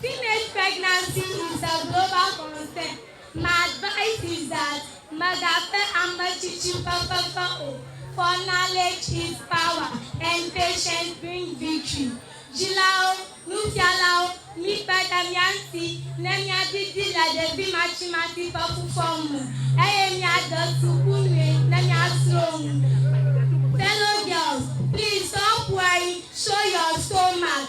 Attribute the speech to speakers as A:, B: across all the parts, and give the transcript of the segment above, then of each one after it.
A: Teenage pregnancy is a global concern, my advice is that mègafe ame tsitsi ƒe fefe o, for knowledge is power and patience bring victory. Dzilawo, nufialawo, mikpe ɖe mía ŋuti ne míadidi le ɖevi matsimati ƒe fufɔ me eye míade suku nyui ne míasrɔ̃ nu. Fellow girls, please stop worrying, show your stomach.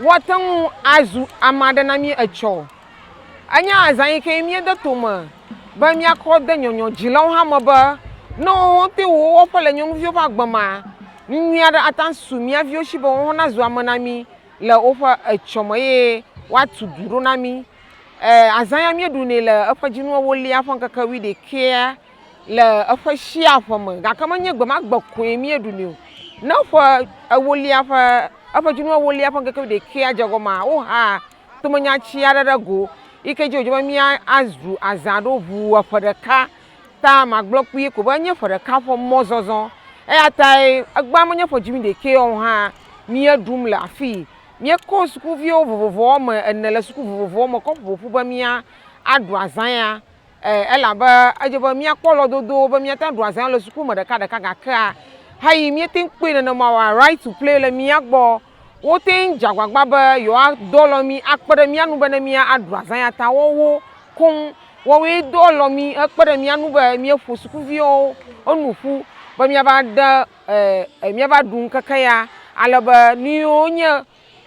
B: Woate ŋu azu ame aɖe na mí etsɔ. Enye azã yi ke míede tome be míakɔ de nyɔnyɔdzilawo hã me be ne wowo te wowo ƒe le nyɔnuviwo ƒe agbe mea, nu nyui aɖe ate ŋu asu mía viwo si be woawo nazu ame na mí le woƒe etsɔ me eye woatu du ɖo na mí. E, azã ya míeɖunɛ le eƒe dzinu ewolia ƒe ŋkeke wuiɖekɛa le eƒe shia ƒe me gake menye gbe ma gbe koe míeɖu nɛ o. Ne ƒe ewolia ƒe eƒe dzinu ewolia ƒe ŋkeke wuiɖekɛa dze gɔmea, wohea tomenyati aɖe ɖe go yi ke dzi wòdze be míazu azã aɖo ŋu le ƒe ɖeka. Ta magblɔ kpuie ko be enye ƒe ɖeka ƒe mɔzɔzɔ eya tae egbea menye ƒe dzinu ɖekɛ o hã míeɖum le afii. Míekɔ sukuviwo vovovo woame ene le suku vovovowo me kɔ ƒo ƒu be míaɖu azã ya. eh, elabe edze be míakpɔ lɔdodo be míate ŋu aɖu azã le suku me ɖekaɖeka gakea heyi míete ŋu kpɔe nenema oa, Right to Play le mía gbɔ. Wote ŋu dze agbagba be yewoadɔ lɔ mí akpe ɖe mía ŋu be ne míaɖu azã ya ta woawo koŋ woawoe dɔ lɔ mí hekpe ɖe mía ŋu be míeƒo sukuviawo nu ƒu be míava ɖe eh, míava ɖu ŋkeke ya ale be nu yiwo nye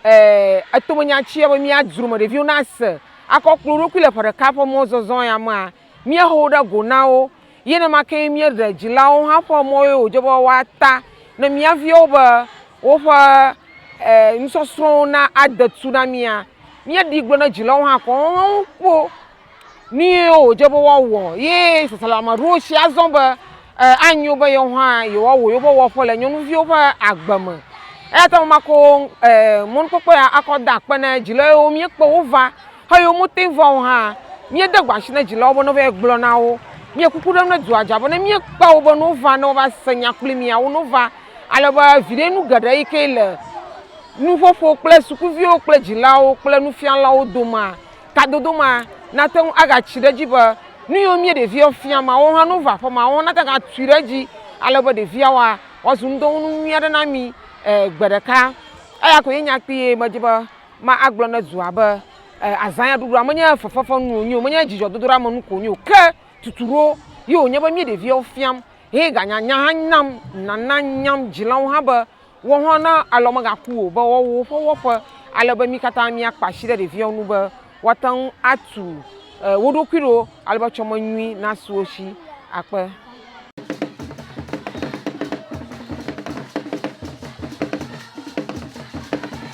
B: Ɛɛ, etome nya ci yɔ be mía dzromeɖeviwo nase akɔ kple wo ɖokui le ƒe ɖeka ƒe mɔzɔzɔ ya mea, míehe wo ɖe go na wo. Ye nenema kee míeɖe dzilawo hã ƒe mɔ ye wòdze be woata ne mía viwo be woƒe, ɛɛ, nusɔsrɔ̃wo nade tu na mía. Míeɖii gblɔ na dzilawo hã kɔŋ be woawo kpo Nu ye wòdze be woawɔ ye sasalameɖowo si azɔ be anyo be yewo hã yewoawɔ yewoƒe wɔƒe le nyɔnuviwo ƒe agbe me. Eya ta makɔ mɔnukpɔkpɔ ya akɔ da akpe na dzila yewo míekpe wo va he yewo mete va o hã míede gbe asi na dzilawo bene wovae gblɔ na wo. Míe kuku ɖem ɖe dua dzi bene míekpe wo bene wova ne wova se nya kpli mía wo ne wova ale be viɖe nu geɖe yi ke le nuƒoƒo kple sukuviwo kple dzilawo kple nufialawo domea. Kadodo ma nate ŋu agatsi ɖe edzi be nu yiwo mía ɖeviawo fia ma, woawo hã ne wova aƒe ma, woawo hã nate ŋu agatui ɖe edzi ale be ɖeviawoa, woazu ŋudɔwɔnu nyui aɖe na mí gbe ɖeka. Eya koe nye nya kpui ye medi be magblɔ na dua be azãya ɖuɖua menye fefefenu wònye o, menye dzidzɔdodoɖeamenu ko wònye o, ke tuturo ye wònye be mí ɖeviawo fiam, ye ganye nya hã nam, nana nyam dzilawo hã be. Wò hã na alɔ megaku wò o be woawu woƒe wɔƒe ale be mí katã míakpa asi ɖe ɖeviawo ŋu be woate ŋu atu wo ɖokui ɖo ale be tsɔme nyui nasu wo si. Akpe.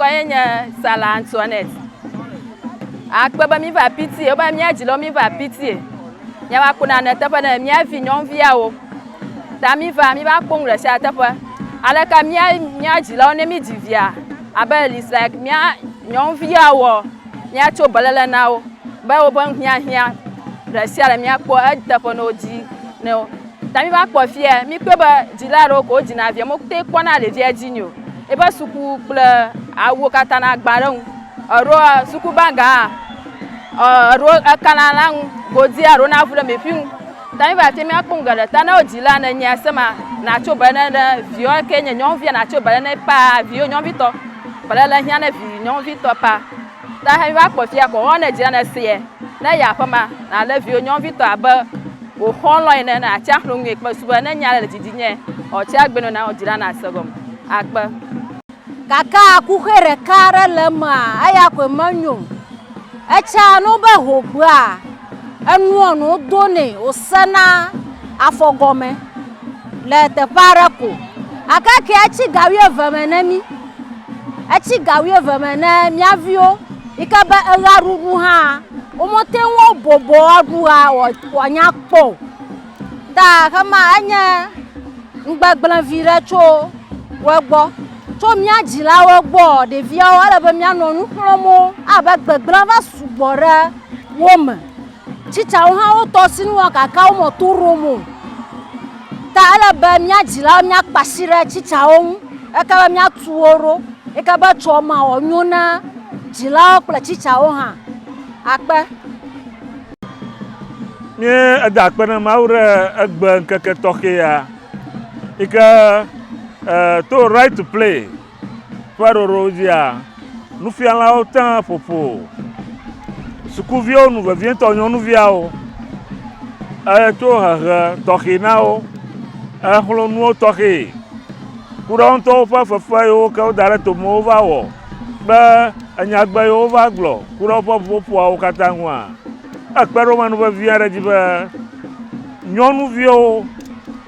C: ŋkɔye nye Sala Antoinette. Akpe be mi va pitie, wobe mia dzi lɔ mi va pitie. Mia va kuna ne teƒe ne mia vi nyɔnuviawo. Ta mi va mi va kpɔnu le sia teƒe. Ale ka mia mia dzi lɔ ne mi dzi via abe it's like mia nyɔnuviawo. Míatso beléle na wo be woƒe hiahiã ɖe sia ɖe míakpɔ eteƒe ne wodzi ne wo. Ta míva kpɔ fiye, míkpɔe be dzila aɖewo koe wodzina via, wometeŋ kpɔna ɖevia dzi nɛ o. Eƒe suku kple awuwo katã na gbã ɖe eŋu. Eɖo sukubaga hã, eɖo ekana na ŋu godui alo na vu ɖe meƒi ŋu. David ate ŋu akpɔ nu geɖe ta ne wodzi la ne nyea sema natso be ne ɖe viwò eke nye nyɔnuvia natso be ne paa viwò nyɔnuvitɔ be ne le hiã ne vi nyɔnuvitɔ paa ta he va kpɔ fia kɔ hɔn ne dzi la ne seɛ ne ya aƒema na le viwò nyɔnuvitɔ abe wò xɔlɔ ene ne atsi axlo ŋue kpe su be ne nya le didi nye ɔ tsi agbe nɔ na wò dzi la na se gɔme akpe. Gake
D: akuxe ɖeka aɖe le emea eya koe menyo o etsia nu be ho ƒea. Enua nuwo donɛ wòsena afɔ gɔme le teƒe aɖe ko. Gake ke etsi ga wuieve me ne mí. Etsi ga wuieve me ne mía viwo yi ke be eɣeaɖuɖu hã womete ŋu woabɔbɔ aɖu ɣea wòanya kpɔ o. Ta ɣe ma enye ŋgbegblẽ vi ɖe tso wo gbɔ. Tso mía dzilawo gbɔ, ɖeviawo, ele be míanɔ nu xlɔm wo abe gbegblẽ va sugbɔ ɖe wo me. Tsitsawo hã wo tɔsinu wɔ gake wo mɔ to ɖom o. Ta ele be mía dzilawo míakpa asi ɖe tsitsawo ŋu eke be míatu wo ɖo. Eke be tsɔ ma wɔ nyo na dzilawo kple tsitsawo hã. Akpe.
E: Míe eda akpe na Mawu ɖe egbe ŋkeke tɔxɛ ya yi ke eh, to right to play ƒe ɖoɖo dzia nufialawo tã ƒoƒo sukuviwo nu vevietɔ nyɔnuviawo eto eh, hehe tɔxɛ na wo exlɔ nuwo tɔxɛ ku ɖe wo ŋutɔwo ƒe fefe yiwo ke woda ɖe tome wova wɔ. be enyagbe yiwo va gblɔ ku ɖe woƒe ƒuƒoƒoawo katã ŋua, ekpe ɖe wo me nu vevi aɖe dzi be nyɔnuviwo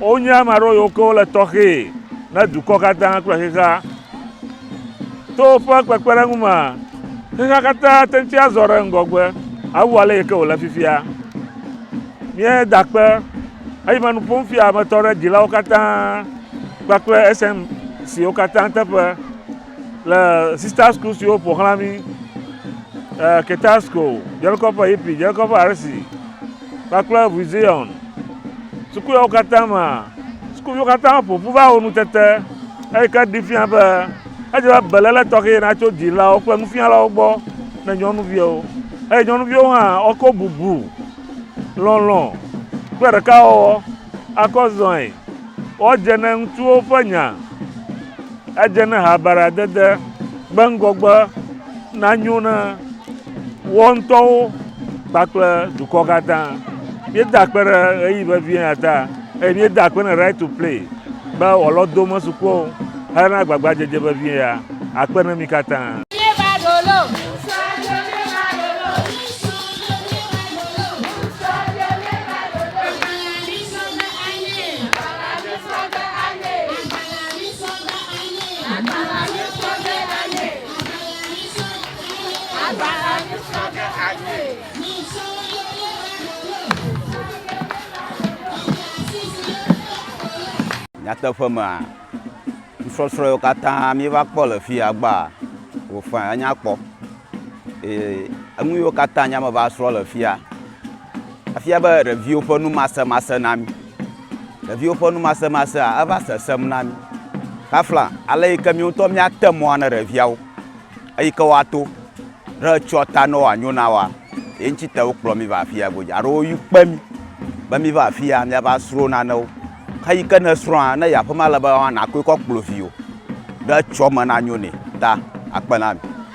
E: wonye ame aɖewo yiwo ke wole tɔxɛ ne dukɔ katã kple xexea. To woƒe kpekpeɖeŋu me, xexea katã te ŋuti azɔ ɖe ŋgɔgbe awu ale yi ke wòle fifia. Míeda kpe eyime nu ƒom fia me tɔ ɖe dzilawo katã kpakple esem siwo katã teƒe. Le Sister School siwo ƒo xlã mí, eh, Keter School, Djelkɔƒe Hippie, Djelkɔƒe Arsi, kpakple Vuizion sukuyawo katã mea, sukuviwo katã ƒo ƒu va wɔ nutete, eyi ke ɖee fia be edze be beléle tɔxɛ natso dzilawo kple nufialawo gbɔ ne nyɔnuviwo, eye nyɔnuviwo hã woakɔ bubu, lɔlɔ̃, kple ɖekawɔwɔ akɔ zɔe. Woadze ne ŋutsuwo ƒe nya. Edze ne habaɖadede gbe ŋgɔgbe nanyo na woawo ŋutɔwo kpakple dukɔ katã. Míeda akpe ɖe ɣeyiɣi vevie ya ta eye míeda akpe na Right to Play be wòalɔ dome su kpɔ hena agbagbadzedze vevie ya. Akpe na mi katã.
F: Nyateƒe mea, nusɔsrɔ̃ yiwo katã míeva kpɔ le fi agbea, wofaa enya kpɔ. Eye enu yiwo katã nyame va srɔ̃ le fia, efia be ɖeviwo ƒe numasemase na mí. Ɖeviwo ƒe numasemasea eva sesẽm na mí. Kafla ale yi ke mí ŋutɔ míate mɔa ne ɖeviawo eyi ke woato ɖe etsɔa ta ne wòanyo na woa, ye ŋuti te wokplɔ mí va afia godzi alo woyɔ kpe mí be míva afia míava srɔ̃ nanewo. Ke yi ke nèsrɔ̃a, ne yi aƒeme ale be nàkɔe kɔ kplɔ viwò ɖe etsɔme nanyo nɛ ta akpe na mi.